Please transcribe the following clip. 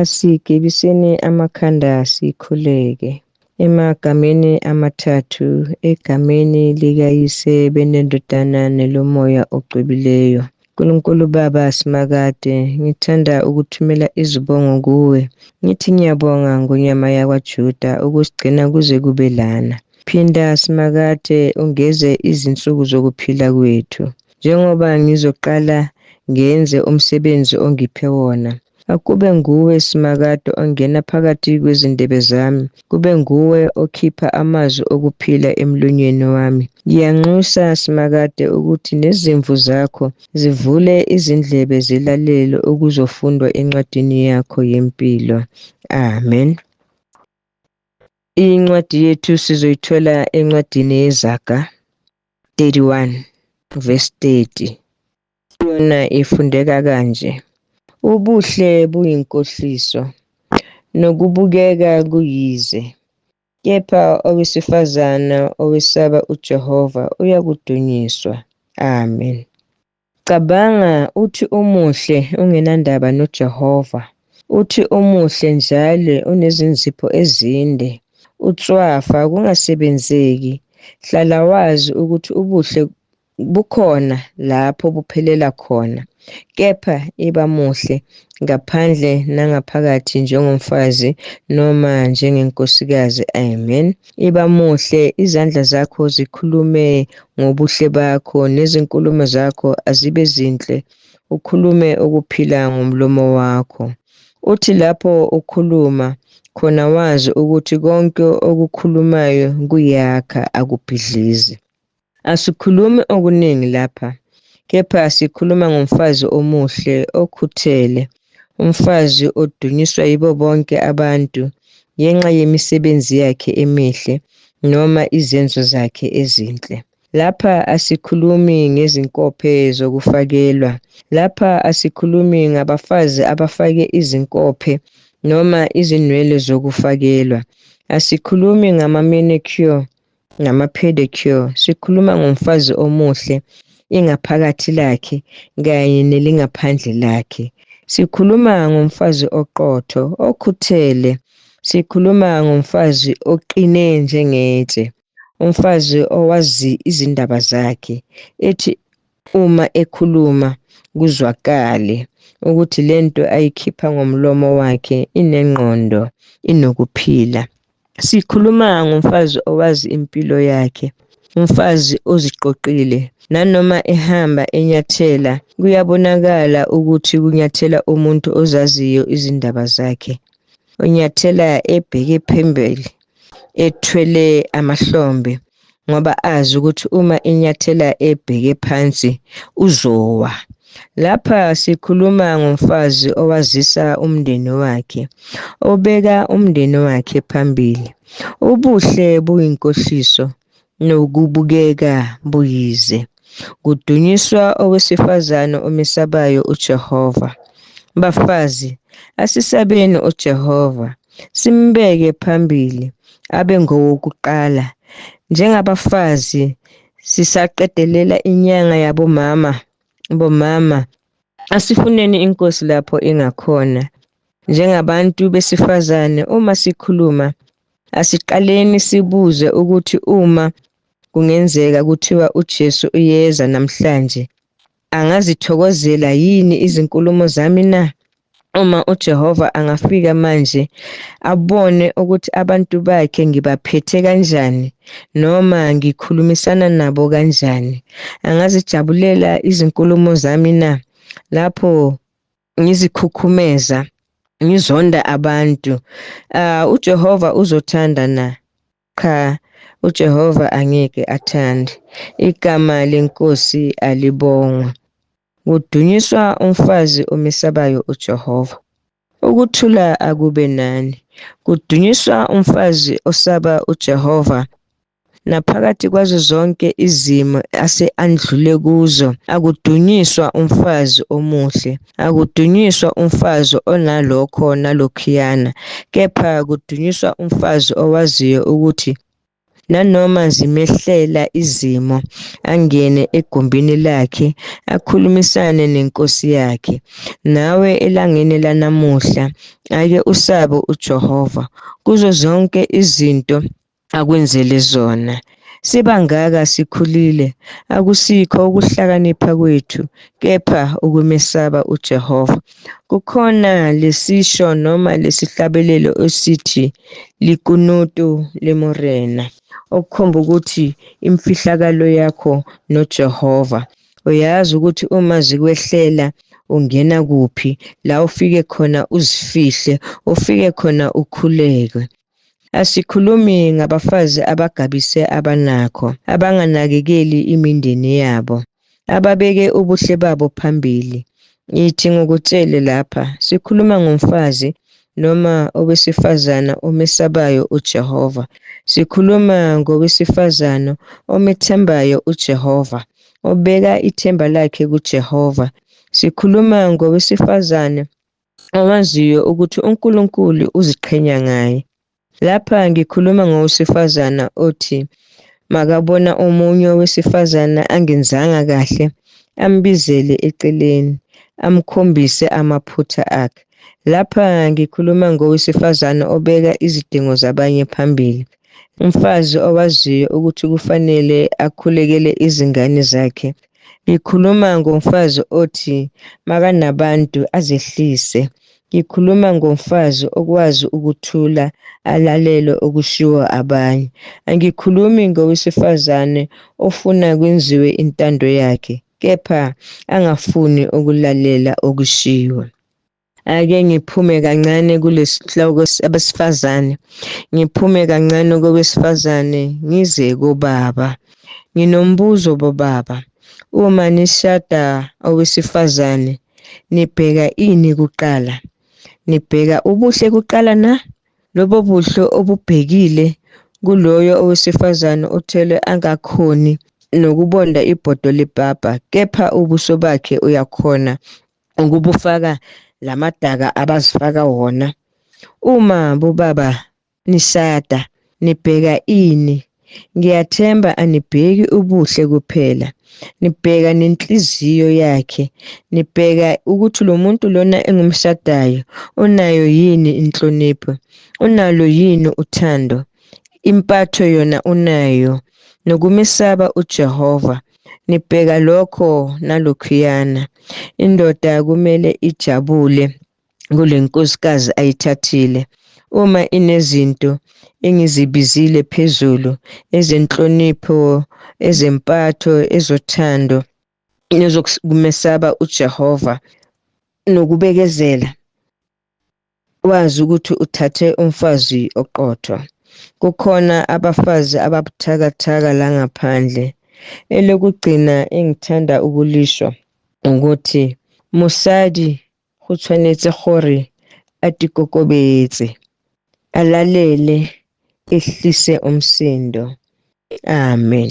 Asigibiseni amakhanda sikhuleke. Emagameni amathathu, egameni likaYise beneNdodana neloMoya ogcwebileyo. Nkulunkulu Baba Simakade, ngithanda ukuthumela izibongo kuwe. Ngithi ngiyabonga ngonyama yakwaJuda ukusigcina kuze kube lana. Phinda Simakade ungeze izinsuku zokuphila kwethu. Njengoba ngizoqala ngenze umsebenzi ongiphe wona, Akube nguwe simakade ongena phakathi kwezindebe zami, kube nguwe okhipha amazwi okuphila emlonyeni wami. Ngiyanxusa simakade ukuthi nezimvu zakho zivule izindlebe zilalele okuzofundwa encwadini yakho yempilo. Amen. Incwadi yethu sizoyithola encwadini yezaga 31 verse 30. Yona ifundeka kanje. Ubuhle buyinkohliso, nokubukeka kuyize. Kepha owesifazana owesaba uJehova uyakudunyiswa. Amen. Cabanga uthi umuhle ungenandaba noJehova. Uthi umuhle njalo unezinzipho ezinde. Utswafa kungasebenzeki. Hlala wazi ukuthi ubuhle bukhona lapho buphelela khona, kepha iba muhle ngaphandle nangaphakathi njengomfazi noma njengenkosikazi. Amen. Iba muhle, izandla zakho zikhulume ngobuhle bakho, nezinkulumo zakho azibe zinhle, ukhulume ukuphila ngomlomo wakho. Uthi lapho ukhuluma khona wazi ukuthi konke okukhulumayo kuyakha akubhidlizi. Asikhulumi okuningi lapha, kepha sikhuluma ngomfazi omuhle okhuthele, umfazi odunyiswa yibo bonke abantu ngenxa yemisebenzi yakhe emihle noma izenzo zakhe ezinhle. Lapha asikhulumi ngezinkophe zokufakelwa. Lapha asikhulumi ngabafazi abafake izinkophe noma izinwele zokufakelwa. Asikhulumi ngama-manicure ngama-pedicure sikhuluma ngomfazi omuhle ingaphakathi lakhe kanye nelingaphandle lakhe sikhuluma ngomfazi oqotho okhuthele sikhuluma ngomfazi oqine njengetshe umfazi owazi izindaba zakhe ethi uma ekhuluma kuzwakale ukuthi lento ayikhipha ngomlomo wakhe inengqondo inokuphila Sikhuluma ngomfazi owazi impilo yakhe, umfazi oziqoqile. Nanoma ehamba enyathela, kuyabonakala ukuthi kunyathela umuntu ozaziyo izindaba zakhe. Unyathela ebheke phambili, ethwele amahlombe. ngoba azi ukuthi uma inyathela ebheke phansi uzowa lapha sikhuluma ngomfazi owazisa umndeni wakhe obeka umndeni wakhe phambili ubuhle buyinkohliso nokubukeka buyize Kudunyiswa owesifazane omesabayo uJehova. Bafazi, asisabeni uJehova, simbeke phambili abe ngowokuqala. Njengabafazi sisaqedelela inyanga yabomama, bomama, asifuneni inkosi lapho ingakhona. Njengabantu besifazane uma sikhuluma asiqaleni sibuze ukuthi uma Kungenzeka kuthiwa uJesu uyeza namhlanje. Angazithokozela yini izinkulumo zami na? Uma uJehova angafika manje abone ukuthi abantu bakhe ngibaphethe kanjani noma ngikhulumisana nabo kanjani, angazijabulela izinkulumo zami na? Lapho ngizikhukhumeza, ngizonda abantu, uh, uJehova uzothanda na? Cha, uJehova angeke athande. Igama lenkosi alibongwe. Kudunyiswa umfazi omesabayo uJehova. Ukuthula akube nani. Kudunyiswa umfazi osaba uJehova naphakathi kwazo zonke izimo ase andlule kuzo akudunyiswa umfazi omuhle Akudunyiswa umfazi onalokho nalokhuyana, kepha kudunyiswa umfazi owaziyo ukuthi nanoma zimehlela izimo angene egumbini lakhe akhulumisane nenkosi yakhe nawe elangeni lanamuhla ake usabe uJehova kuzo zonke izinto akwenzele zona sibangaka sikhulile akusikho ukuhlakanipha kwethu kepha ukumesaba uJehova kukhona lesisho noma lesihlabelelo esithi likunutu lemorena okukhomba ukuthi imfihlakalo yakho noJehova uyazi ukuthi uma zikwehlela ungena kuphi la ufike khona uzifihle ufike khona ukhuleke Asikhulumi ngabafazi abagabise abanakho, abanganakekeli imindeni yabo, ababeke ubuhle babo phambili. Ngithi ngokutshele lapha, sikhuluma ngomfazi noma owesifazana omesabayo uJehova. Sikhuluma ngowesifazana omethembayo uJehova, obeka ithemba lakhe kuJehova. Sikhuluma ngowesifazane awaziyo ukuthi uNkulunkulu uziqhenya ngaye. Lapha ngikhuluma ngowesifazana othi makabona omunye owesifazana angenzanga kahle ambizele eceleni amkhombise amaphutha akhe. Lapha ngikhuluma ngowesifazana obeka izidingo zabanye phambili. Umfazi owaziyo ukuthi kufanele akhulekele izingane zakhe Ngikhuluma ngomfazi othi makanabantu azehlise. Ngikhuluma ngomfazi okwazi ukuthula alalele okushiwo abanye. Angikhulumi ngowesifazane ofuna kwenziwe intando yakhe kepha angafuni ukulalela okushiwo. ake ngiphume kancane kulesihloko abesifazane ngiphume kancane kowesifazane ngize kobaba nginombuzo bobaba uma nishada owesifazane nibheka ini kuqala nibheka ubuhle kuqala na lobo buhle obubhekile kuloyo owesifazane othelwe angakhoni nokubonda ibhodo lepapa kepha ubuso bakhe uyakhona ukubufaka lamadaka abazifaka wona uma bobaba nishada nibheka ini ngiyathemba anibheki ubuhle kuphela nibheka nenhliziyo yakhe nibheka ukuthi lo muntu lona engumshadayo unayo yini inhlonipho unalo yini uthando impatho yona unayo nokumesaba uJehova nibheka lokho nalokhuyana indoda kumele ijabule kule nkosikazi ayithathile uma inezinto engizibizile phezulu ezenhlonipho ezempatho ezothando nezokumesaba uJehova nokubekezela wazi ukuthi uthathe umfazi oqotho kukhona abafazi ababuthakathaka la ngaphandle elokugcina engithanda ukulisho ukuthi mosadi go tshwanetse gore a tikokobetse a lalele ehlise umsindo amen